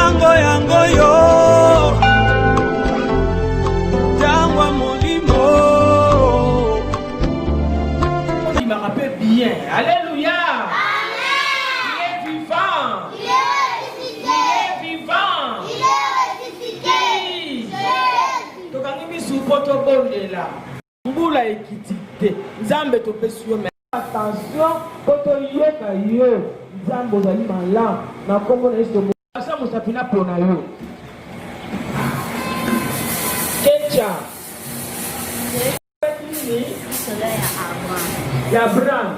Tango yango yo Tango ya molimo Ndimaka pe bien Alléluia Tokangi misu po tobondela mbula ekiti te nzambe topesi yo attention po toyoka yo nzambe ozali malamu na nkombo na yesu asa mosapi na pona yo kecha ya abraham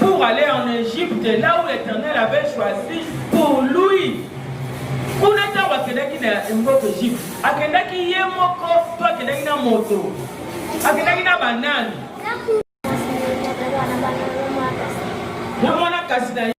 pour aller en Égypte, là où l'Éternel avait choisi pour lui. kuna ntango akendaki na mboka egypte akendaki ye moko to akendaki na moto akendaki na banani na mwana kasi na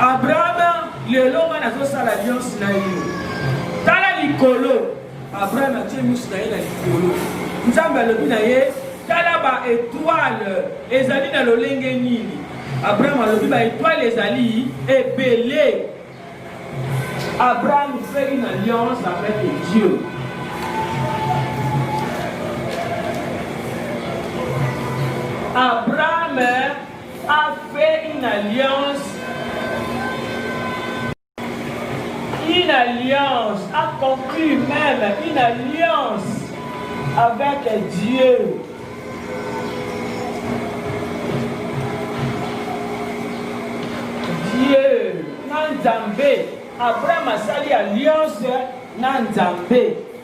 abrahama lelo nga nazosala alliance na yo tala likolo abrahama atie misu na ye na likolo nzambe alobi na ye tala ba etoile ezali na lolenge nini abrahama alobi ba etoile ezali ebele abraham fait une alliance avec dieu abraham a fait une alliance une alliance a conclu même une alliance avec Dieu Dieu na Nzambe Abraham asali alliance na Nzambe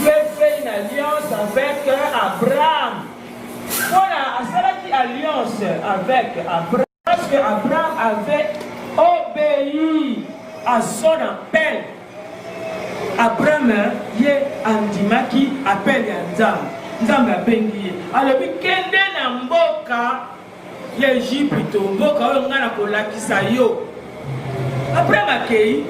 Dieu fait une alliance avec Abraham. Voilà, asalaki alliance avec Abraham. Parce que Abraham avait obéi à son appel. Abraham ye andimaki appel ya Nzambe. Nzambe abengi ye. Alobi kende na mboka ya egypito mboka oyo ngai nakolakisa yo après makei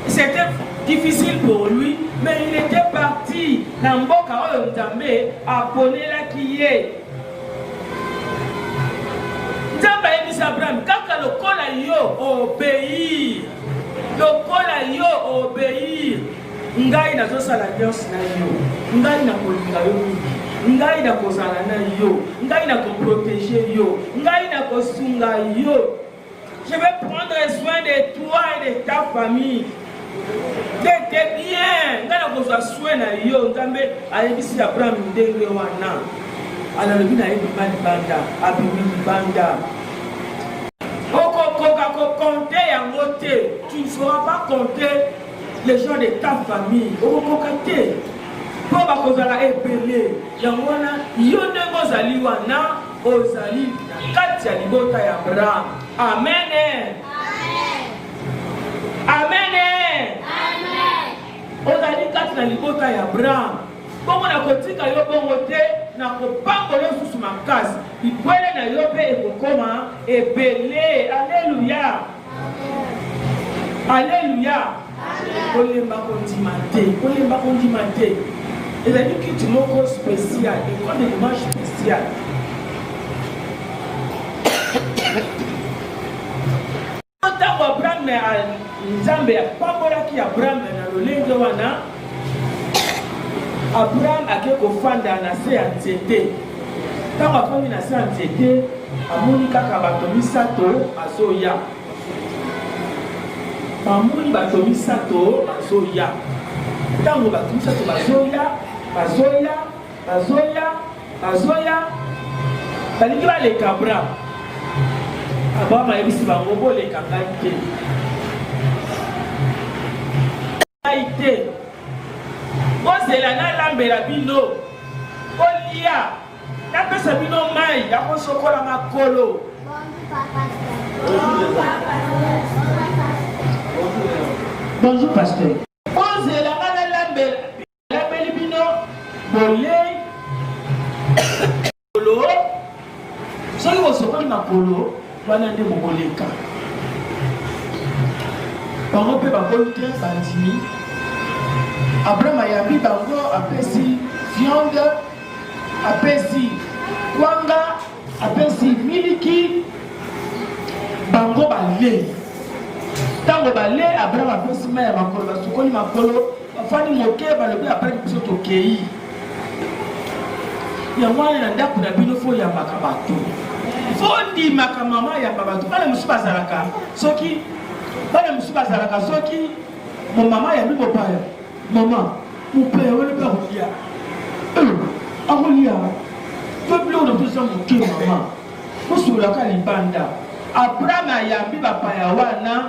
c'était difficile pour lui mais il était parti na mboka oyo nzambe aponelaki ye nzambe ayebisi abraham kaka lokola yo obeir lokola yo obeir ngai nazosala alliance na yo ngai nakolinga yo mingi ngai nakozala na yo ngai nakoprotege yo ngai nakosunga yo je vais prendre soin de toi et de ta famille tete bien ngai nakozwa soin na yo nzambe ayebisi abraham ndenge wana analobi na ye bima libanda abimi libanda okokoka kokonte yango te tu ne sauras pas compter Les gens de ta famille okokoka te mpo bakozala ebele. Yango wana yo ndenge ozali wana ozali na kati ya libota ya Abraham. Amene. Amene. Ozali kati na libota ya Abraham. Bongo nakotika yo bongo te, nakopambola lisusu makasi. Bibwele na yo mpe ekokoma ebele. Aleluya. Alléluia. Kolemba kondima te, kolemba kondima te. ezali kiti moko spécial école de dimanche spécial ntango abrahame nzambe apambolaki abrahame na lolenge wana Abraham ake kofanda na se ya nzete. Ntango afandi na se ya nzete, amoni kaka bato misato azoya. Bamoni bato misato bazoya. Ntango bato misato bazoya, bazoya Bazoya, bazoya, balingi baleka bra. Abraham ayebisi bango boleka ngai te. Ngai te. Bozela nalambela bino. Bolia. Napesa bino mai ya kosokola makolo. Bonjour, pasteur. Nalapeli bino bolei makolo soki bosokoli makolo wana nde bokoleka bango mpe bakomi te bandimi abraham ayambi bango apesi viande apesi kwanga apesi miliki bango balei ntango balei abraham apesi mai ya makolo basukoli makolo bafandi moke balobi apres biso tokei yango wana na ndako na bino fo oyambaka bato fo ondimaka mama ayamba bato bana mosusu bazalaka soki bana mosusu bazalaka soki momama ayambi mopaya Maman, mopaya wana mpe akolia. Eh, akolia. Peuple oyo nakosa moke maman. Kosolaka libanda. Abraham ayambi bapaya wana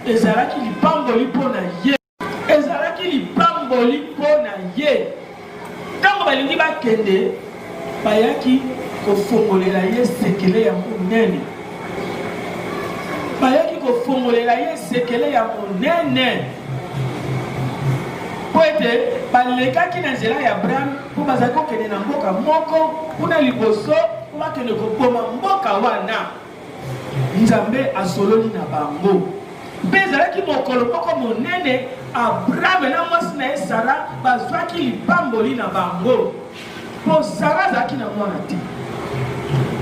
ezalaki lipamboli mpo na ye. Ezalaki lipamboli mpo na ye. Ntango balingi bakende, bayaki kofongolela ye sekele ya monene. Bayaki kofongolela ye sekele ya monene mpo ete balekaki na nzela ya Abraham mpo bazali kokende na mboka moko kuna liboso mpo bakende koboma mboka wana. Nzambe asololi na bango. Mpe ezalaki mokolo moko monene, Abrahame na mwasi na ye Sara bazwaki lipamboli na bango, mpo Sara azalaki na mwana te.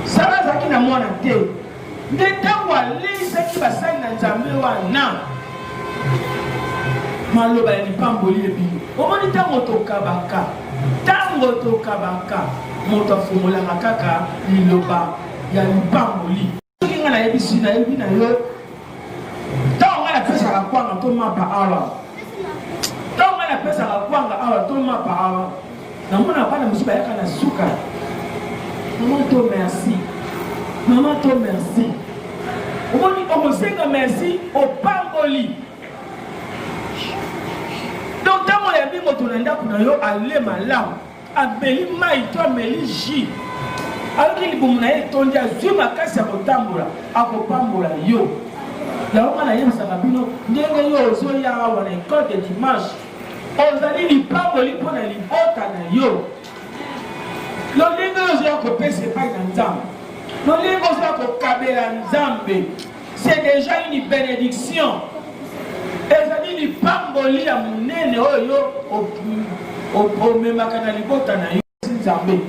Sara azalaki na mwana te, nde ntango aleisaki basali na Nzambe wana maloba ya lipamboli ebimi. Omoni ntango tokabaka, ntango tokabaka, moto afungolaka kaka liloba ya lipamboli soki ngai nayebisi nayebi na yo ntango ngai napesaka kwanga to mapa awa ntango ngai napesaka kwanga awa to mapa awa namona bana mosusu bayaka na suka mama to merci mama to merci omoni okosenga merci opamboli donc ntango oyambi moto na ndako na yo ale malamu ameli mai to ameli ji ayoki libumu na ye etondi azwi makasi ya kotambola akopambola yo yango nga nayebisaka bino ndenge yo ozoya awa na ecole de dimanche ozali lipamboli mpo na libota na yo lolenge oyo ozoya kopesa epai na nzambe lolenge ozoya kokabela nzambe c'est déjà une benediction ezali lipamboli ya monene oyo yo omemaka na libota na yo nzambe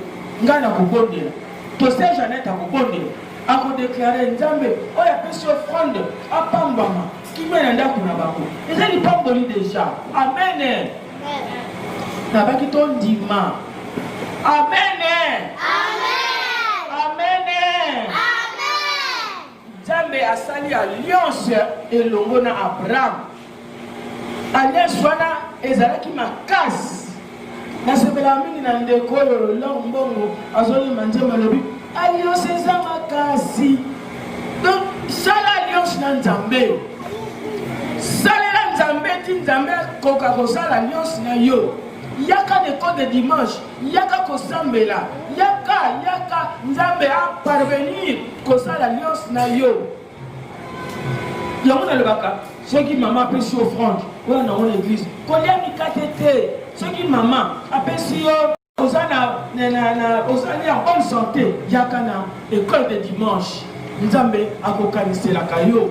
ngai nakobondela tose janete akobondela akodeklare nzambe oyo apesi ofrande apambama kimia na ndako na bango eza lipamboli deja amene nabaki tondima amene, amene. Nzambe asali alliance elongo na Abraham. Alliance wana ezalaki makasi. Nasepela mingi na ndeko oyo Lolor Mbongo azoyemba nzembo alobi alliance eza makasi. Donc sala alliance na Nzambe. Salela Nzambe ti Nzambe akoka kosala alliance na yo. Yaka na ekode dimanche yaka kosambela yaka yaka nzambe aparvenir kosala alliance na yo yango nalobaka soki mama apesi offrande oyo nango na eglise kolia mikate te soki mama apesi yo oza na ozali en bonne santé yaka na école de dimanche nzambe akokaniselaka yo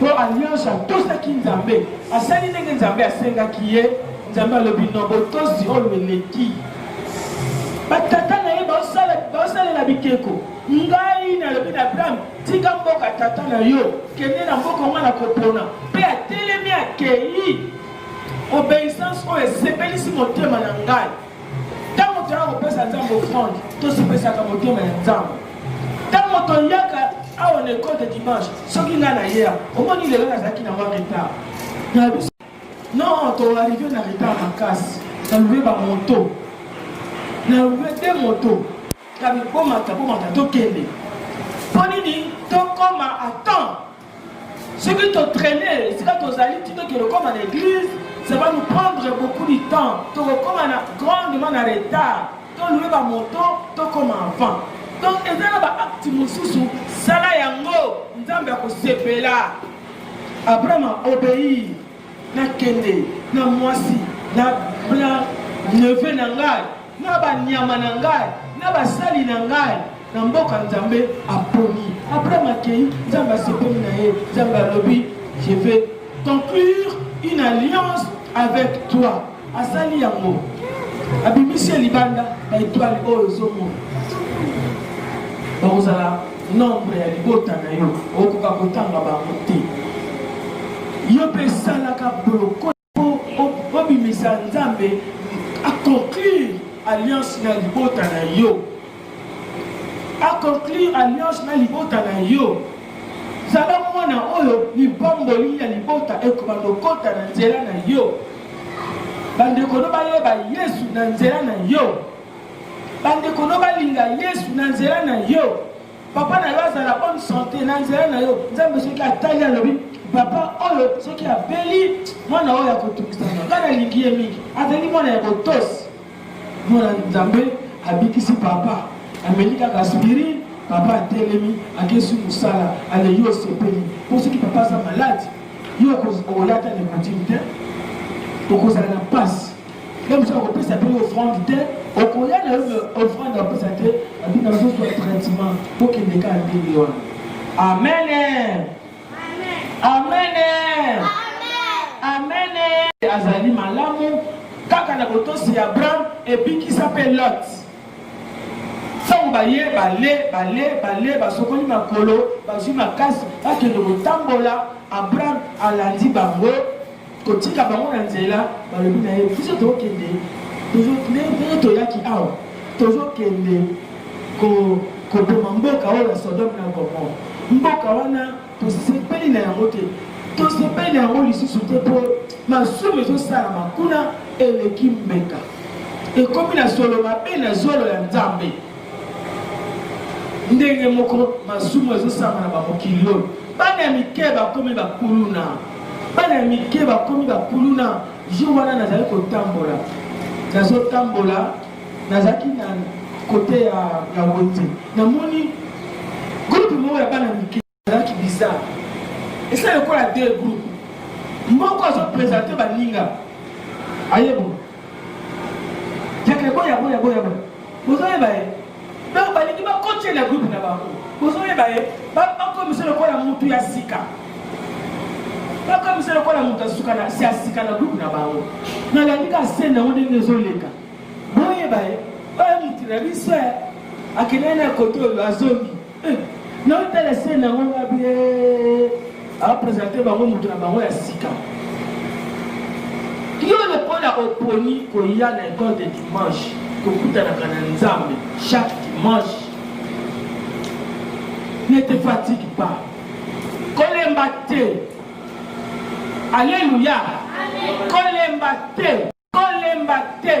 po alliance atosaki nzambe asali ndenge nzambe asengaki ye nzambe alobi no botosi oyo eleki batata na ye baosalela bikeko ngai nalobi na abraham tika mboka tata na yo kende na mboka onga na kopona mpe atelemi akei obeissance oyo esepelisi motema na ngai ntango toya kopesa nzambe offrande tosopesaka motema ya nzambe ntango toyaka awa na ekole de dimanche soki ngai nayeya omoni lelo nazalaki na mwa retard na biso non toarrive na retard makasi nalobe bamoto nalobe te moto kabibomata bomata tokende mpo nini tokoma atemps soki to traîner esika tozali ti tokende okoma na église ça va nous prendre beaucoup du temps tokokoma na grandement na retard tolue bamoto tokoma avant donc eza na baakte mosusu sala yango nzambe akosepela abraham aobeir Nakende na mwasi na na neveu na ngai na banyama na ngai na basali na ngai na mboka Nzambe aponi. Abraham akei, Nzambe asepeli na ye, Nzambe alobi je vais conclure une alliance avec toi. Asali yango. Abimisi ye libanda ba etoile oyo ozomona. Bakozala nombre ya libota na yo okoka kotanga bango te. Yo mpe esalaka boloko mpo obimisa Nzambe akonclure alliance na libota na yo akonclure alliance na libota na yo zala mwana oyo libomboli ya libota ekoma lokota na nzela na yo bandeko no bayeba yesu na nzela na yo bandeko no balinga yesu na nzela na yo papa na yo azala bonne santé na nzela na yo nzambe soki atali alobi papa oyo soki abeli mwana oyo akotungisa nga nalingi ye mingi azali mwana ya botosi Mwana Nzambe abikisi papa, ameli kaka aspirine, papa atelemi, akesi mosala, aleyi osepeli. Mpo soki papa aza malade, yo okoyata na kotimi te, okozala na mpasi. Ye mosusu akopesa mpe yo offrande te, okoya na yo offrande apesa te, abina bazozwa traitement, bokende kaka ndenge wana. Amen. Amen. Amen. Azali malamu kaka na botosi ya Abraham ebikisa mpe Lot. Ntango baye bale bale bale basokoli makolo bazwi makasi bakende kotambola, Abraham alandi bango kotika bango na nzela balobi na ye biso tokende ndenge toyaki awa tozokende koboma mboka oyo ya sodome na gomor mboka wana tosepeli na yango te tosepeli na yango lisusu te mpo masumu ezosalama kuna eleki mbeka ekomi na solo mabe na zolo ya nzambe ndenge moko masumu ezosalama na bamokili oyo bana ya mike bakomi bakuluna bana ya mike bakomi bakuluna jour wana nazali kotambola nazotambola nazalaki na kote ya wenze namoni groupe moko ya bana mike azalaki bizarre esala lokola de groupe moko azopresente baninga ayebo yaka eboya boya boya boya ozoyeba ye donc balingi bakotyela groupe na bango bozoyeba ye bakomiso lokola mutu ya sika bakomiso lokola mutu ya sika na groupe na bango nalandi ka sene yango ndenge ezoleka boyeba ye oyo mutu na biso akendaki na kote oyo azongi Eh, na tala se na ngo ba bie a présenter bango moto na bango ya sika yo lokola oponi koya na école de dimanche kokutanaka na nzambe chaque dimanche ne te fatigue pas kolemba te alleluya kolemba te kolemba te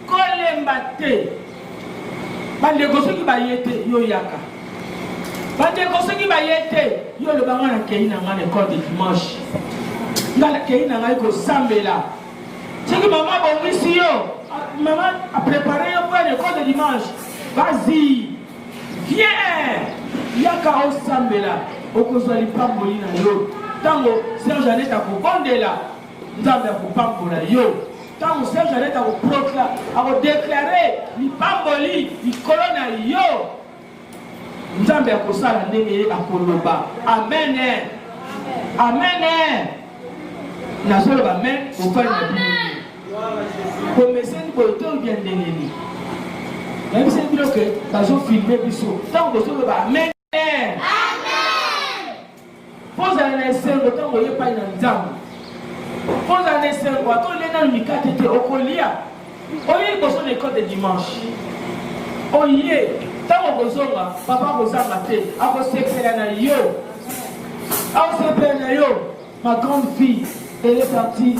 kolemba te bandeko soki baye te yo yaka bandeko soki baye te yo loba ngai nakei na ngai na ekole de dimanche ngai nakei na ngai kosambela soki mama abongisi yo mama aprepare yo mpo na ekole de dimanche vas-y viens yaka osambela okozwa lipamboli na yo ntango serge anet akobondela Nzambe akopambola yo ntango Serge Anete akoprokla akodeklare lipamboli likolo na yo. Nzambe akosala ndenge ye akoloba. Amen. Amen. Nazoloba amen. Ofali na bino. Komeseni boye to bya ndenge nini? nayebisaki bino ke bazofilme biso ntango bozoloba amen kozala na esengo ntango oye epai na nzambe kozala na esengo ata olie nano mikate te okolia oye liboso na ekole de dimanche oye ntango okozonga papa akozanga te akosekela na yo akosekela na yo Ma grande fille, elle est partie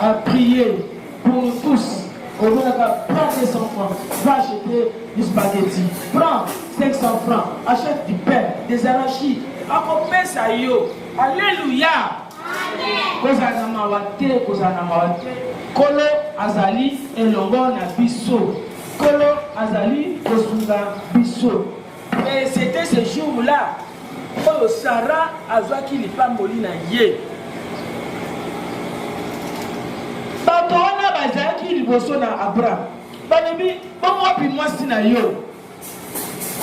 à prier pour nous tous. Au moins, prends 200 francs, va acheter du spaghetti, prends 500 francs, achète du pain, des arachides, akopesa yo. Alléluia. kozala na mawa te kozala na mawa te nkolo azali elongo na biso nkolo azali kosunga biso Et c'était ce jour-là oyo Sarah azwaki lipamboli na ye. Bato wana bazalaki liboso na Abraham, balobi bongo wapi mwasi na yo?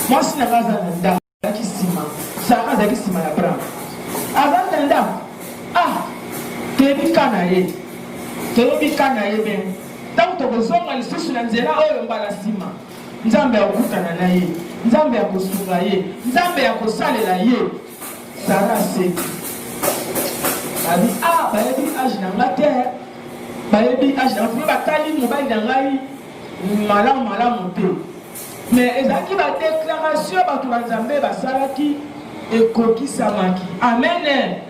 Mwasi na ngai aza na ndako, azalaki nsima. Sarah azalaki nsima ya Abraham, azali na ndako. Ah, toyebi ka na ye, toyebi ka na ye bene. Ntango tokozonga lisusu na nzela oyo mbala nsima Nzambe akokutana na ye, Nzambe akosunga ye, Nzambe akosalela ye. Sara asengi, abi a ah, bayebi age na nga te, bayebi age na nga batali mobali na ngai malamu malamu te mais ezalaki badeklaratio bato banzambe basalaki ekokisamaki amen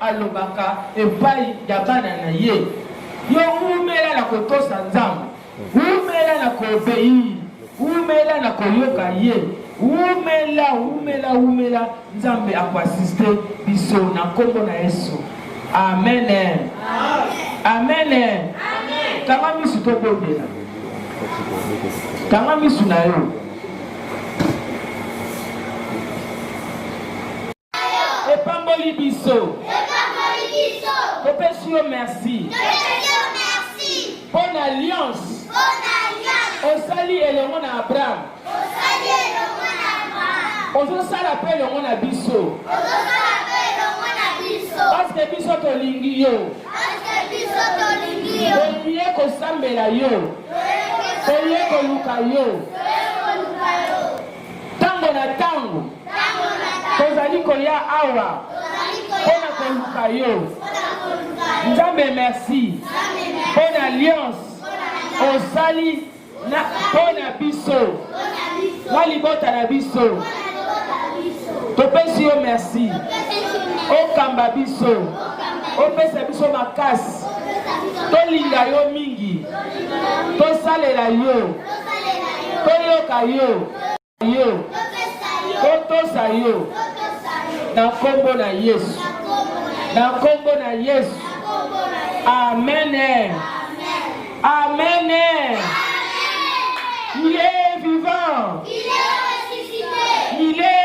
alobaka epai ya bana na ye yo umela na kotosa nzambe umela na kobeir umela na koyoka ye umela umela umela nzambe akoasiste biso na nkombo na yesu amen amen kanga misu tobondela kanga misu na yo epamboli biso topesi yo merci mpo na alliance osali elongo na abraham ozosala mpe elongo na biso paske biso tolingi yo tolie kosambela yo tolie koluka yo Tango na tango. Tozali koya awa. Mpo na koluka yo. Nzambe merci. Mpo na alliance. Osali mpo na biso. Na libota na biso. Topesi yo merci. Okamba biso. Opesa biso makasi. Tolinga yo mingi. Tosalela yo. toyoka yo yo totosa yo na nkombo na yesu na nkombo na yesu amene amene il est vivant il est